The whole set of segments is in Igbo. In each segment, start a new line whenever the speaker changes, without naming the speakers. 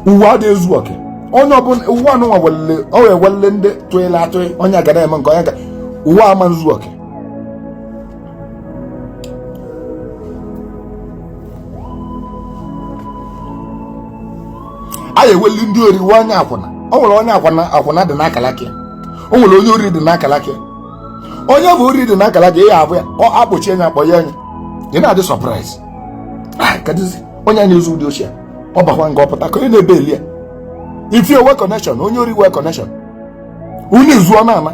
ụwa adịghị ezu oke onye ọbụla ụwa anụnwa welele ọ wee welele ndị tụịla atụị onye aga na-eme nke onye ga ụwa ama ezu oke a ya eweli ndị ori wee onye akwụna o nwere onye akwụna akwụna dị n'akalaka ya o nwere onye ori dị n'akalaka ya onye bụ ori dị n'akalaka ya ya abụ ya ọ akpọchie anya akpọ ya anya ị na-adị surprised onye a na-ezu ụdị oshi a ọ bakwa nga ọ pụta ka onye na-ebail ya if o we connection onye ori we connection unu izuo na ama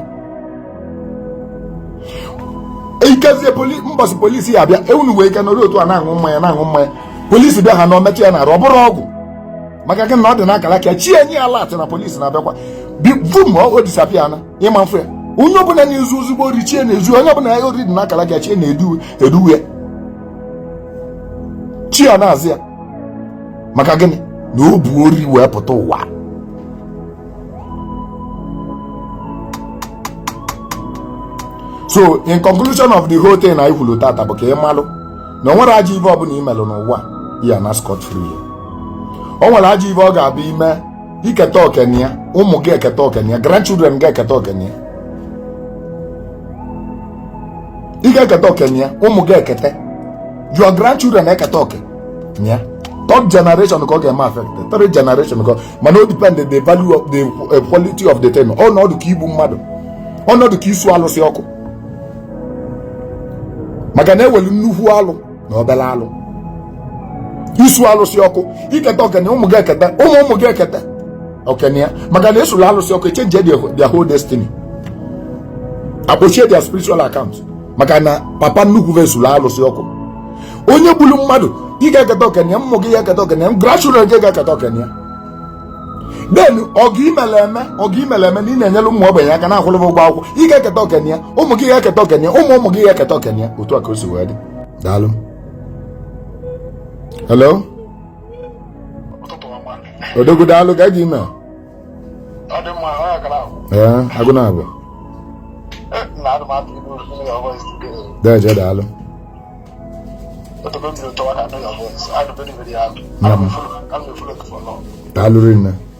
ikezie mbọsị polisi ya abịa ewunu wee ike nọrọ otu a na-aṅụ mmanya na-aṅụ mmanya polisi bịa ha na o metụ ya n'arụ ọ bụrọ ọgwụ maka gịnị na ọ dị n'akara aka chi enye ya alert na polisi na-abịakwa vum o disappear na ịma mfe ya onye ọbụla na-ezu ezigbo ori chi e na-ezu onye ọbụla ya ori dị n'akara aka chi e na-edu e edu chi ya na-azọ ya maka gịnị na o bu ori wee pụta ụwa so in conclusion of the whole thing anyị kwuru tata bụ ka ị malụ na o nwere ajọ ive ọbụla i melụ n'ụwa ị ya-ana scot free o nwere ajọ ive ọ ga-abụ i me i keta oke na ya ụmụ gị eketa oke na ya grandchildren gị eketa oke na ya ị ga-eketa oke na ya ụmụ gị eketa your grandchildren eketa oke na ya third generation ka ọ ga-eme affect third generation ka mana o depend the value of the eh, quality of the thing ọnọdụ ka igbu mmadụ ọnọdụ ka isu alụsị ọkụ maka na e welu nnukwu alụ na obere alụ isu alụsị ọkụ i keta oke na ya ụmụ gị eketa ụmụ ụmụ gị eketa oke na ya maka na e sula alụsị ọkụ e change their whole destiny akpọchie their spiritual account maka na papa nnukwu va esula alụsị ọkụ onye gburu mmadụ ị ga-eketa oke na ya ụmụ gị ya-eketa oke na ya grandchildren gị ga-eketa oke na ya then ọgọ i mele eme ọgọ i mele eme na ị na-enyere ụmụ ogbenye aka na-akwụrụ ụgwọ akwụkwọ ị ga-eketa oke na ya ụmụ gị ga-eketa oke na ya ụmụ ụmụ gị ga-eketa oke na ya otu a ka o si wee dị daalụ hello odogwu daalụ ka gị mee ee agụ na abụ deje daalụ daalụ rinne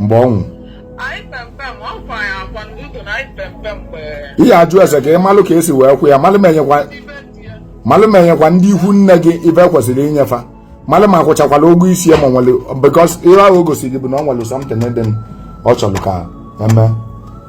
mgbe ọ nwụrụ ị ya-ajụ ese ka ị malụ ka e si wee kwa ya malụ ma e nyekwa ndị ikwu nne gị ive kwesịrị inye fa malụ ma a kwụchakwala ụgwọ isi ya ma nwere because ihe ahụ o gosiri gị bụ na ọ nwere something dị ọ chọrọ ka e mee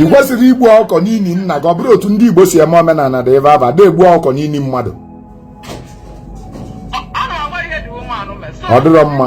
ị kwesịrị igbu ọkụkọ n'ili nna gị ọ bụrọ otu ndị Igbo si eme omenala dị ebe aba da egbu ọkụkọ n'ili mmadụ ọ dịrọ mma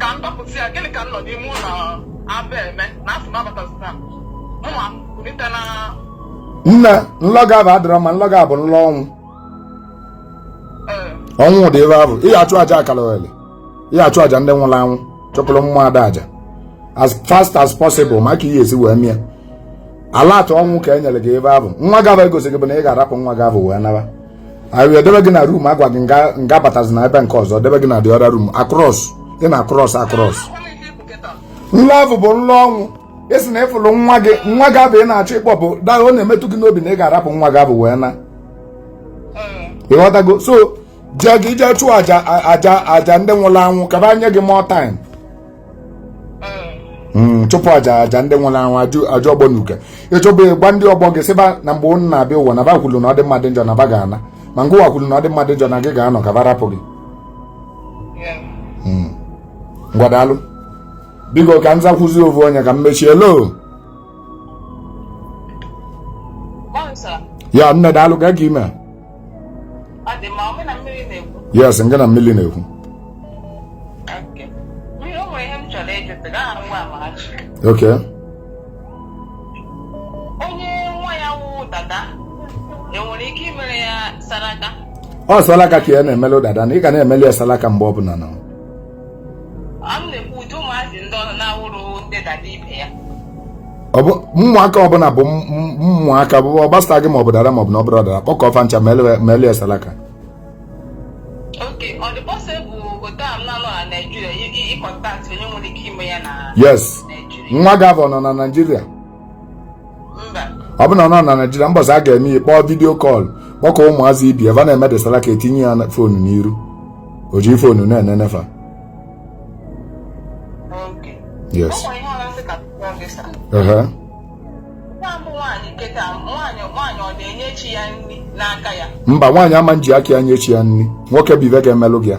ka m dọpụta ya gịnị ka m nọ n'ime ụlọ abụ eme na asị m abatazina m mụnwa kulite na nna nlọ gị abụ adịrọ mma nlọ gị abụ nlọ ọnwụ ee ọnwụ dị ebe ahụ ị ga-achụ aja akalogheli ị ga-achụ aja ndị nwụrụ anwụ chụpụrụ ụmụada aja as fast as possible maka ihe esi wee mie alert ọnwụ ka e nyere gị ebe ahụ nwa gị abụ egosiri gị bụ na ị ga-arapụ nwa gị abụ wee naba anyị wee debe gị na room agwa gị ngị abatazina ebe nke ọzọ debe gị na the other room across ị na-across across nlọ ọvụ bụ nlọ ọnwụ ị sị na ị fụlụ nwa gị nwa gị abụ ị na-achọ ịkpọ bụ daa ọ na-emetụ gị n'obi na ị ga-arapụ nwa gị abụ wee naa ị ghọtago so jee gị jee chụọ aja aja aja ndị nwụrụ anwụ ka ba nye gị more time Hmm, chụpụ aja aja ndị nwụrụ anwụ aja ọgbọ na uke ị chụọ ba gwa ndị ọgbọ gị sị ba na mgbe ụnụ na-abịa ụwa na ba kwuru na ọ dị mma ọ dị njọ na ba ga-ana ma ngịwa kwuru na ọ dị mma ọ dị njọ na gị ga-anọ ka ba rapụ gị hmm. ngwa daalụ biko ka m zakwuzi ovu onye ka m mechie lo ya nne daalụ gaa ka ime yes nga na mmiri na-ekwu okwu salaka ka a na-emele dada na ị ga na-emele ya salaka mgbe ọ bụla na ọ bụ ụmụaka ọbụla bụ ụmụaka ọ gbasaghị maọbụ dada maọbụ na ọ bụrọ dada kpọkọọ fa ncha melu ya salaka yes nwa gị abụ ọ nọ na naijiria ọ bụ na ọ nọ na naijiria mbọsị a ga-eme ya kpọọ video call kpọkọ ụmụazị ebe va na-eme the salaka etinye ya phone n'iru o ji phone na-enene fa yes mba nwaanyị ama nji aka ya nye chi ya nri nwoke bụ ive ga-emelụ gị ya